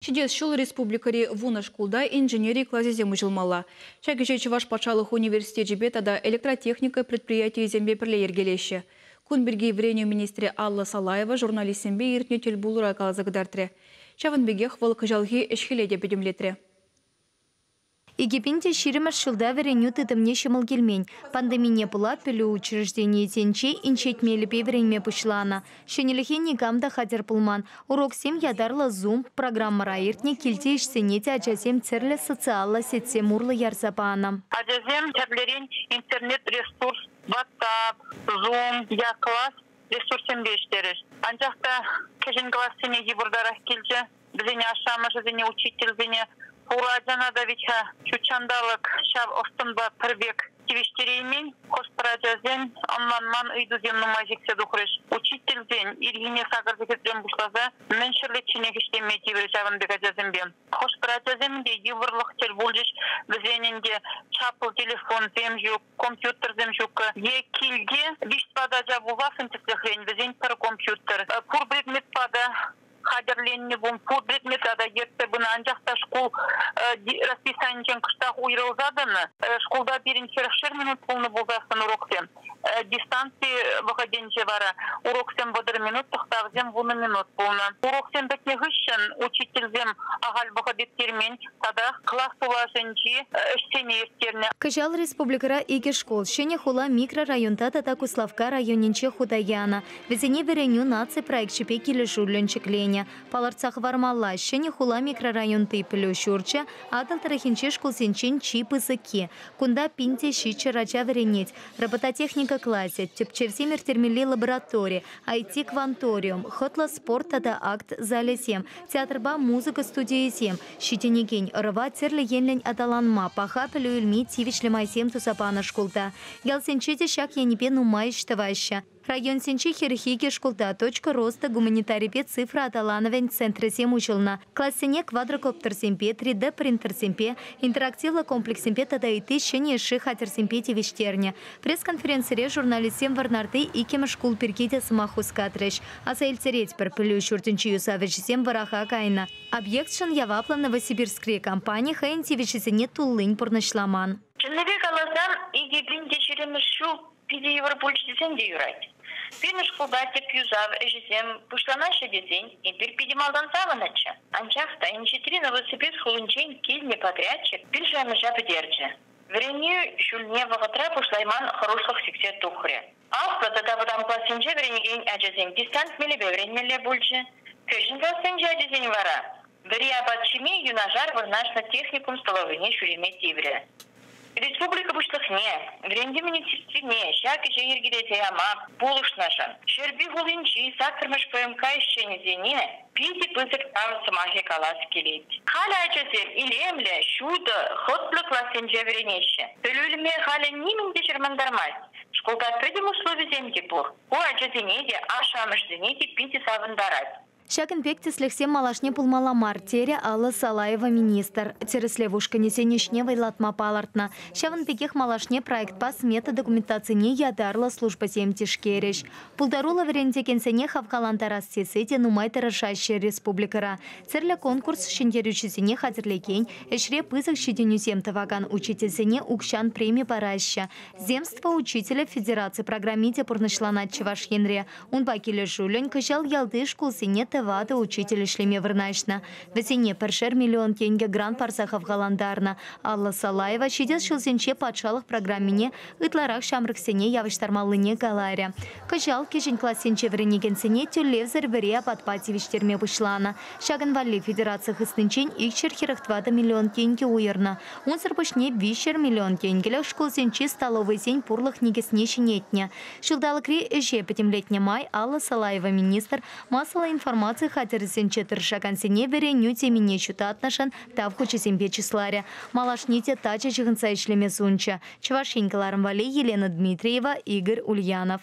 Ҫитес ҫул республикӑри вунӑ шкулта инженери класӗсем уҫӑлмалла. Ҫак ӗҫе Чӑваш патшалӑх университечӗпе тата электротехника предприятийӗсемпе пӗрле йӗркелеҫҫӗ. Кун пирки вӗренӳ министрӗ Алла Салаева журналистсемпе иртнӗ тӗл пулура каласа кӑтартрӗ. Ҫавӑн пекех вӑл кӑҫалхи ӗҫ-хӗле те пӗтӗмлетрӗ. Эгипин те ҫирӗммӗш ҫулта вӗренӳ тытӑмне ҫӑмӑл килмен. Пандемине пула пӗлӳ учрежденийӗсенче инҫет мелӗпе вӗренме пуҫланӑ. Ҫӗнӗлӗхе никам та хатӗр пулман. Уроксем ятарлӑ Zoom программӑра иртнӗ, килти ӗҫсене те ачасем тӗрлӗ социаллӑ сетьсем урлӑ ярса панӑ. Ачасем тӗрлӗрен интернет-ресурс, WhatsApp, Zoom е класс ресурссемпе ӗҫлерӗҫ. Анчах та кӗҫӗн классене йывӑртарах килчӗ. Вӗсен ашшӗ-амӑшӗсене, учительсене пур ачана та вӗт-ха ҫут ҫанталӑк ҫав ӑс-тӑнпа пӗр пек тивӗҫтереймен. Хӑш-пӗр ачасен ӑнланман ыйтусем нумай ҫитсе тухрӗҫ. Учительсен ирхине сакӑр сехетрен пуҫласа мӗн ҫӗрлечченех ӗҫлеме тиврӗ ҫавӑн пек ачасемпе. Хӑш-пӗр ачасем те йывӑрлӑх тӗл пулчӗҫ, вӗсенӗн те чаплӑ телефонсем ҫук, компьютерсем ҫук. Е килте виҫ-тӑват ача пулсассӑн тӗслӗхрен вӗсен пӗр компьютер, пур предметпа та хатӗрленнӗ пум пур предмета та ертсе пынӑ, анчах та шкул расписанинчен кӑштах уйрӑлса тӑнӑ. Шкулта пирӗн хӗрӗхшер минут пулнӑ пулсассӑн уроксем. Дистанци вӑхӑтӗнче вара уроксем вӑтӑр минут, тӑхтавсем вунӑ минут пулнӑ. Уроксем пӗтнӗ хыҫҫӑн учительсем ахаль вӑхӑт ирттермен татах класс тулашӗнчи ӗҫсене ирттернӗ. Кӑҫал республикӑра икӗ шкул, Ҫӗнӗ хула микрорайонта тата Куславкка районӗнче хута янӑ. Вӗсене Вӗренӳ наци проекчӗпе килӗшӳллӗн ҫӗкленӗ. Палӑртса хӑвармалла, Ҫӗнӗ хула микрорайонти пӗлӳ ҫурчӗ Атӑл тӑрӑхӗнчи шкулсенчен чи пысӑкки. Кунта пин те ҫиччӗ ача вӗренет, робототехника класӗ, тӗпчевсем ирттермелли лаборатори, IT-кванториум, хӑтлӑ спорт тата акт залӗсем, театрпа музыка студийӗсем, ҫитӗнекен ӑрӑва тӗрлӗ енлӗн аталанма, паха пӗлӳ илме тивӗҫлӗ майсем туса панӑ шкулта. Ялсенче те ҫак енӗпе нумай ӗҫ тӑваҫҫӗ. Районсенче хӗрӗх икӗ шкулта Точка роста гуманитарипе цифра аталанӑвӗн центрӗсем уҫӑлнӑ. Классене квадрокоптерсемпе, три д принтерсемпе, интерактивлӑ комплекссемпе тата ытти ҫӗнӗ ӗҫши хатӗрсемпе тивӗҫтернӗ. Пресс-конференцире журналистсем Вӑрнарти иккӗмӗш шкул пирки те сӑмах хускатрӗҫ. Аса илтеретпӗр, пӗлӳ ҫуртӗнчи юсав ӗҫӗсем вӑраха кайнӑ. Объекчӑн яваплӑ Новосибирскри компани хӑйӗн тивӗҫӗсене туллин пурнӑҫламан. Чӑннипе каласан, икӗ пин те ҫирӗммӗш ҫул Питӗ йывӑр пуль тесен те юрать. Пирӗн шкулта тӗп юсав ӗҫӗсем пуҫланаҫҫӗ тесен эпир питӗ малтан савӑннӑччӗ. Анчах та инҫетри Новосибирск хулинчен килнӗ подрядчик пиршанӑҫа пӗтерчӗ. Вӗренӳ ҫулне вӑхӑтра пуҫлайман хӑрушлӑх сиксе тухрӗ. Аслӑ тата вӑтам классенче вӗренекен ачасем десант мелӗпе вӗренмелле пулчӗ, кӗҫӗн классенчи ачасен вара Вӗри апат ҫими юнашар вырнаҫнӑ техникум столовӑйне ҫӳреме тиврӗ. Республика Пуҫлӑхне, вӗрентӳ министерствине ҫак ӗҫе йӗркелесе яма пулӑшнӑшӑн Ҫӗрпӳ хулинчи саккӑрмӗш ПМК ӗҫченӗсене питӗ пысӑк тав сӑмахӗ калас килет. Халӗ ачасем илемлӗ, ҫутӑ, хӑтлӑ классенче вӗренеҫҫӗ. Пӗлӳ илме халӗ нимӗн те чӑрмантармасть. Шкулта пӗтӗм условисем те пур. Ку ачасене те, ашшӗ-амӑшсене те питӗ савӑнтарать. Ҫакӑн пек тӗслӗхсем малашне пулмалла мар, терӗ Алла Салаева министр. Тӗрӗслев ушкӑнӗсен ӗҫне вӑйлатма палӑртнӑ. Ҫавӑн пекех малашне проектпа смета документацине ятарлӑ службӑсем тишкерӗҫ. Пултаруллӑ вӗрентекенсене хавхалантарас тесе те нумай тӑрӑшаҫҫӗ республикӑра. Тӗрлӗ конкурс ҫӗнтерӳҫисене хатӗрлекен, ӗҫре пысӑк ҫитӗнӳсем тӑвакан учительсене укҫан преми параҫҫӗ. Земство учителӗ федераци программи те пурнӑҫланать Чӑваш Енре. Унпа килӗшӳллӗн кӑҫал ялти шкулсене тӑватӑ учитель ӗҫлеме вырнаҫнӑ. Вӗсене пӗршер миллион тенкӗ грант парса хавхалантарнӑ. Алла Салаева ҫитес ҫулсенче патшалӑх программине ытларах ҫамрӑксене явӑҫтармаллине каларӗ. Кӑҫал кӗҫӗн классенче вӗренекенсене тӳлевсӗр вӗре апатпа тивӗҫтерме пуҫланӑ. Ҫакӑн валли федераци хыснинчен икҫӗр хӗрӗх тӑватӑ миллион тенкӗ уйӑрнӑ. Унсӑр пуҫне виҫҫӗр миллион тенкӗлӗх шкулсенчи столовӑйсен пурлӑх никӗсне ҫӗнетнӗ. Ҫулталӑкри ӗҫе пӗтӗмлетнӗ май Алла Салаева министр массӑллӑ информаци хатӗрӗсенче тӑрӑшакансене вӗренӳ темине ҫутатнӑшӑн Тав хучӗсемпе чысларӗ. Малашне те тачӑ ҫыхӑнса ӗҫлеме сунчӗ Чӑваш Ен кӑларӑм валли Елена Дмитриева, Игорь Ульянов.